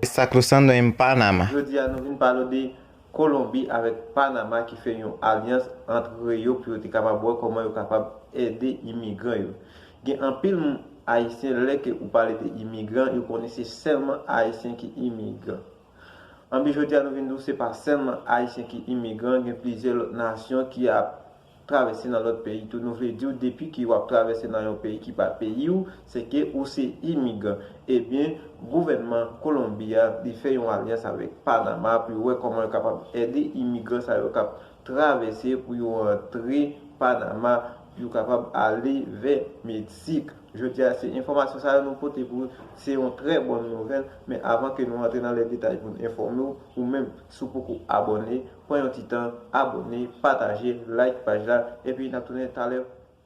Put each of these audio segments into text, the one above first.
Está cruzando en Panama. Jodi a nou vin pale w de Kolonbi avèk Panama ki fè yon alyans antre yo pou yo te kapab wè kòman yo kapab ede imigran yo. Gen anpil Ayisyen lè ke ou pale de imigran yo konnen se sèlman Ayisyen ki imigran. Anben jodi a nou vin di w se pa sèlman Ayisyen ki imigran gen plizyè lòt nasyon ki ap travèse nan lòt peyi tou nou vle diw depi ke wap travèse nan yon peyi ki pa peyiw se ke ou se imigran ebyen gouvènman kolonbi a li fè yon alyans avèk panama pou yo wè kòman yo kapab ède imigran sa yo kap travèse pou yo antre panama pou yo kapab ale vè meksik jodia se enfòmasyon sa yo nou pote pou se yon trè bòn nouvèl men avan ke nou antre nan lè detay poun enfòmew ou menm si w poko abòne. Pran yon ti tan, abone, pataje, like paj la, epi nap tounen talè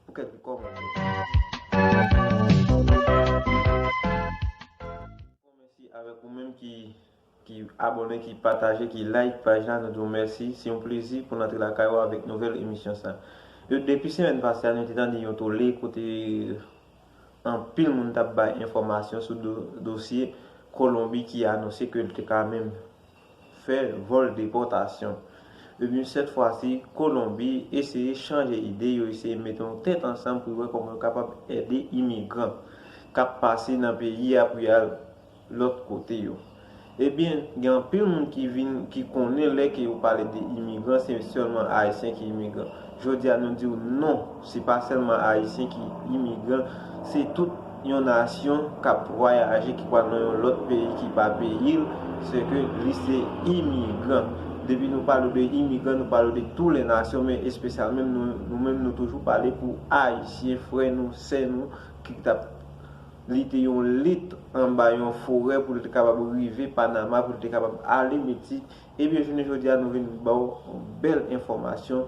pou kèk ti kòmantè. Mèsi avèk ou menm ki ki abone, ki pataje, ki like paj la, nou di w mèsi. Se yon plezi pou n antre lakay ou avèk nouvèl emisyon sa. Depi semèn pase a nou te tande yon tole kote anpil moun tap bay enfòmasyon sou dosye Kolonbi ki anonse ke l te ka menm fè vòl depòtasyon. Ebyen sèt fwa si Kolonbi eseye chanje ide, yo eseye mete yon tèt ansanm pou yo wè kòman yo kapab ede imigran k ap pase nan peyi a pou y al lòt kote yo. Ebyen gen anpil moun ki vin ki konnen lè ke yo pale de imigran se sèlman Ayisyen ki imigran. Jodi a nou diw non, se pa sèlman ayisyen ki imigran, se tout yon nasyon kap vwayaje ki pwal nan yon lòt peyi ki pa peyil, se ke li se imigran. Depi nou pale de imigran nou pale de tou lè nasyon men espesyal menm nou, nou menm nou toujou pale pou ayisyen frè nou, sè nou ki tap lite yon lit anba yon forè pou li te kapab rive Panama pou li te kapab ale mete Ebyen jounen jodi a nou vin ba w yon bèl enfòmasyon,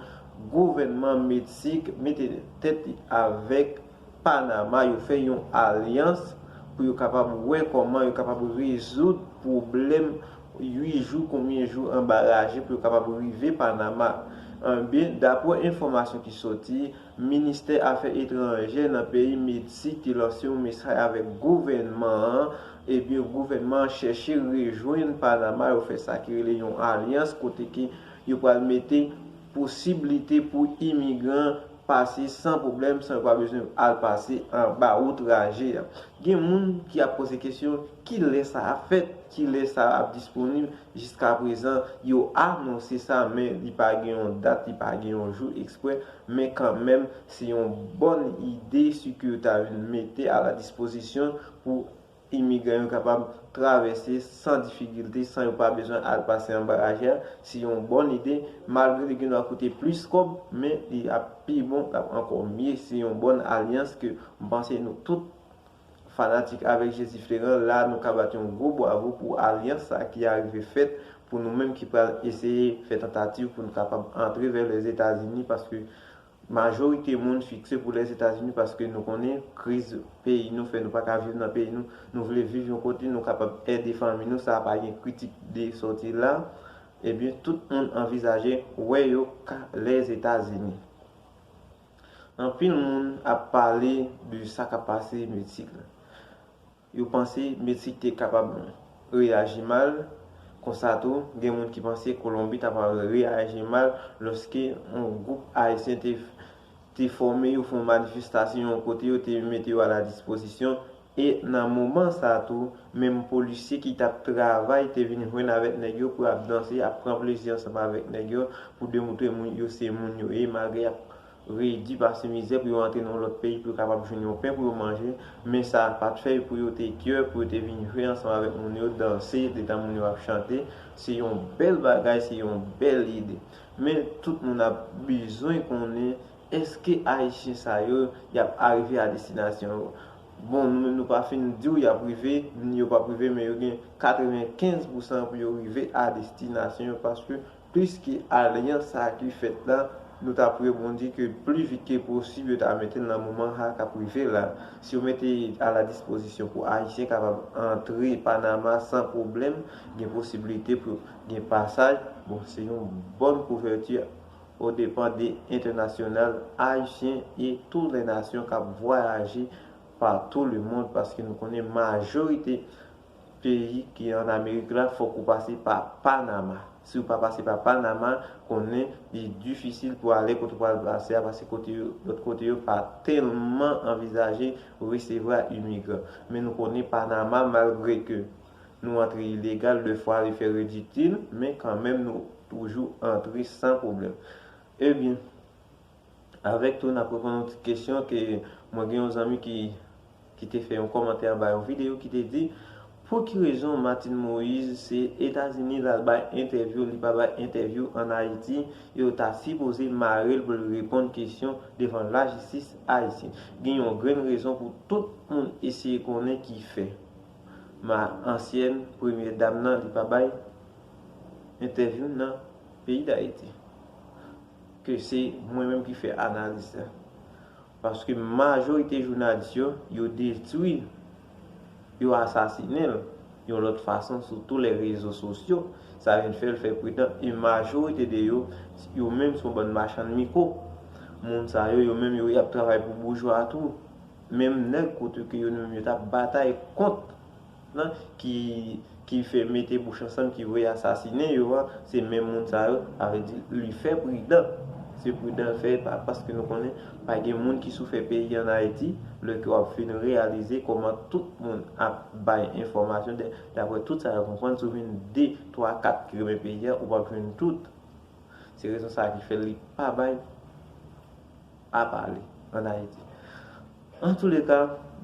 gouvènman Meksik mete tèt li avèk Panama, yo fè yon alyans pou yo kapab wè kòman yo kapab rezoud pwoblèm 8 jou konbyen jou anba raje pou yo kapab rive Panama. Ebyen daprè enfòmasyon ki soti. Ministè afè etranjè nan peyi Medsik te lanse yon mesaj avèk gouvènman an, ebyen gouvènman an chèche rejwenn Panama yo fè sa ki rele yon alyans kote ke yo pral mete posiblite pou imigran pase san pwoblèm san yo pa bezwen al pase anba wout raje a. Gen moun ki ap poze kesyon ki lè sa ap fèt, ki lè sa ap disponib, jiskaprezan yo anonse sa men li pa gen yon dat, li pa gen yon jou eksprè. Men kanmenm, se yon bòn ide si ke yo ta vin mete a la dispozisyon pou imigran yo kapab travèse san difikilte, san yo pa bezwen al pase anba raje a. Se yon bòn ide, malgre li gendwa koute plis kòb, men li ap pi bon, l ap ankò mye. Se yon bòn alyans ke m panse nou tout. Fanatik avèk Jezi Fleran la nou ka bat yon gwo bwavo pou alyans sa ki arive fèt pou nou menm ki pral eseye fè tantativ pou nou kapab antre vè Lèzetazini paske majorite moun fikse pou Lèzetazini paske nou konnen kriz peyi nou fè nou pa ka viv nan peyi nou nou vle viv yon kote nou kapab ede fanmi nou sa pa gen kritik de sòti la ebyen tout moun anvizaje wè yo ka Lèzetazini. Anpil moun ap pale de sa kap pase Meksik la. Yo panse Meksik te kapab reyaji mal, konsa tou gen moun ki panse Kolonbi ta pral reyaji mal lòske yon gwoup Ayisyen te fòme yo fè yon manifestasyon yon kote yo te mete yo a la dispozisyon E nan moman sa tou, menm polisye ki t ap travay te vin jwenn avèk nèg yo pou y ap danse, ap pran plezi ansanm avèk nèg yo pou demoutre moun yo se moun yo ye malgre y ap redi pase mizè pou yo antre nan yon lòt peyi pou yo kapab jwenn yon pen pou yo manje. Men sa pa t fè yo pou yo te kyoè pou yo te vin jwe ansanm avèk moun yo, danse detan moun yo ap chante. Se yon bèl bagay, se yon bèl ide. Men, tout moun ap bezwen konnen Eske ayisyen sa yo yap arive a destinasyon yo? Bon nou menm nou pa fin diw yap rive ni yo pap rive men yo gen 95 pou san pou yo rive a destinasyon yo paske plis ke alyans sa ki fèt la nou tap rebondi ke pli vit ke posib yo ta metel nan moman ha kap rive la si yo mete a la dispozisyon pou ayisyen kapab antre panama san pwoblèm gen posibilite pou gen pasaj bon se yon bòn kouvèti o depan de entènasyonal ayisyen e tou lè nasyon kap vwayaje pa tou le mond paske nou konnen majorite peyi ki an amerik la fòk ou pase pa panama siw pa pase pa panama konnen li difisil pou ale kote ou pral pase a paske kote yo lòt kote yo pa tèlman anvizaje resevra imigran men nou konnen panama malgre ke Nou antre ilegal 2 fwa li fè rediktil men kanmenm nou toujou antre san pwoblèm. Ebyen avèk tou nap reponn yon ti kesyon ke mwen gen yon zanmi ki ki te fè yon kòmantè anba yon video ki te di pou ki rezon Martine Moise se Etazini lal bay entèvyou li pa bay entèvyou an Ayiti yo ta sipoze marel pou l reponn kesyon devan lajistis Ayisyen. Gen yon grenn rezon pou tout moun eseye konnen ki fè. Ma ansyen premye dam nan li pa bay entèvyou nan peyi dayiti ke se mwen menm ki fè analiz sa paske majorite jounalis yo yo detwi yo asasinenl yon lòt fason sou tou lè rezo sosyo sa vin fèl fè pridan e majorite de yo yo menm son bann machann miko moun sa yo yo menm yo yap travay pou boujwa tou. Menm nèg kote ke yo nou menm yo tap batay kont lan ki ki fè mete bouch ansanm ki vre asasinen yo a se menm moun sa yo sa vle di li fè pridan se pridan l fè pa paske nou konnen pa gen moun ki sou fè peyi an ayiti lè ke wap fin reyalize kòman tout moun ap bay enfòmasyon dè daprè tout sa yo konprann si w vin de twa kat ki renmen peyi an ou pap jwenn tout se rezon sa ki fè li pa bay. pa pale an Ayiti. An tou le ka,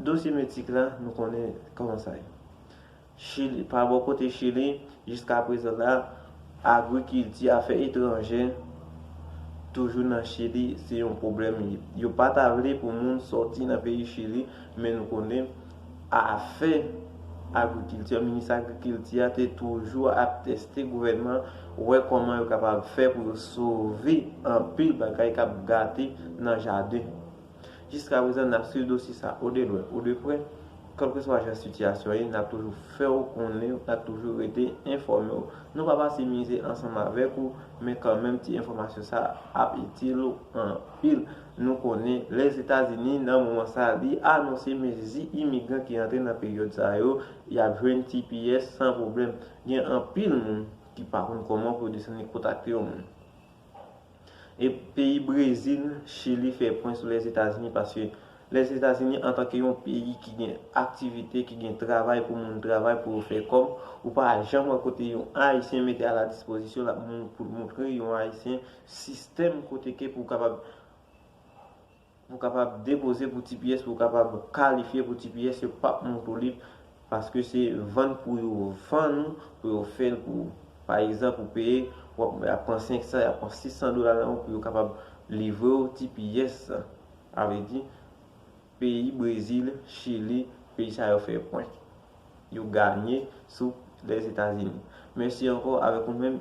dosye Metik la, nou konnen kòman sa ye. Chili, pa bò kote Chili, jiska prezan la, agwikilti, afè etranjè, toujou nan Chili, se yon pwoblèm. Yo pa ta vle pou moun sòti nan peyi Chili, men nou konnen. Afè Agwikilti, Minis Agwikilti a te toujou ap teste gouvènman an, wè kòman yo kapab fè pou yo sove anpil bagay k ap gate nan jaden. Jiska prezan, n ap swiv dosye sa a ou de lwen ou de prè. Kèlkeswa jan sitiyasyon ye, n ap toujou fè ou konnen, n ap toujou rete enfòme ou. Nou pa pase mize ansanm avèk ou, men kanmenm ti enfòmasyon sa a ap itil ou anpil Nou konnen Lèzetazini nan moman sa li anonse mezi imigran ki antre nan peryòd sa yo y ap jwenn tps san pwoblèm. Gen anpil moun ki pa konn kòman pou yo desann e kontakte yon moun. E peyi Brezil, Chili fè pwen sou Lèzetazini paske Lèzetazini antanke yon peyi ki gen aktivite, ki gen travay pou moun travay pou yo fè kòb, ou pa janm wè kote yon Ayisyen mete a la dispozisyon l ap moun pou l montre yon Ayisyen Sistèm kote ke pou kapab pou kapab depoze pou tps pou kapab kalifye pou tps yo pap moun tou lib paske se vann pou yo vann ou pou yo fèl pou ou pa egzanp ou peye wap yap pran 500 yap pran 600 dola nan ou pou yo kapab livre ou tps sa a vle di peyi brezil chili peyi sa yo fè pwenk yo ganye sou lèzetazini mèsi ankò avèk ou menm.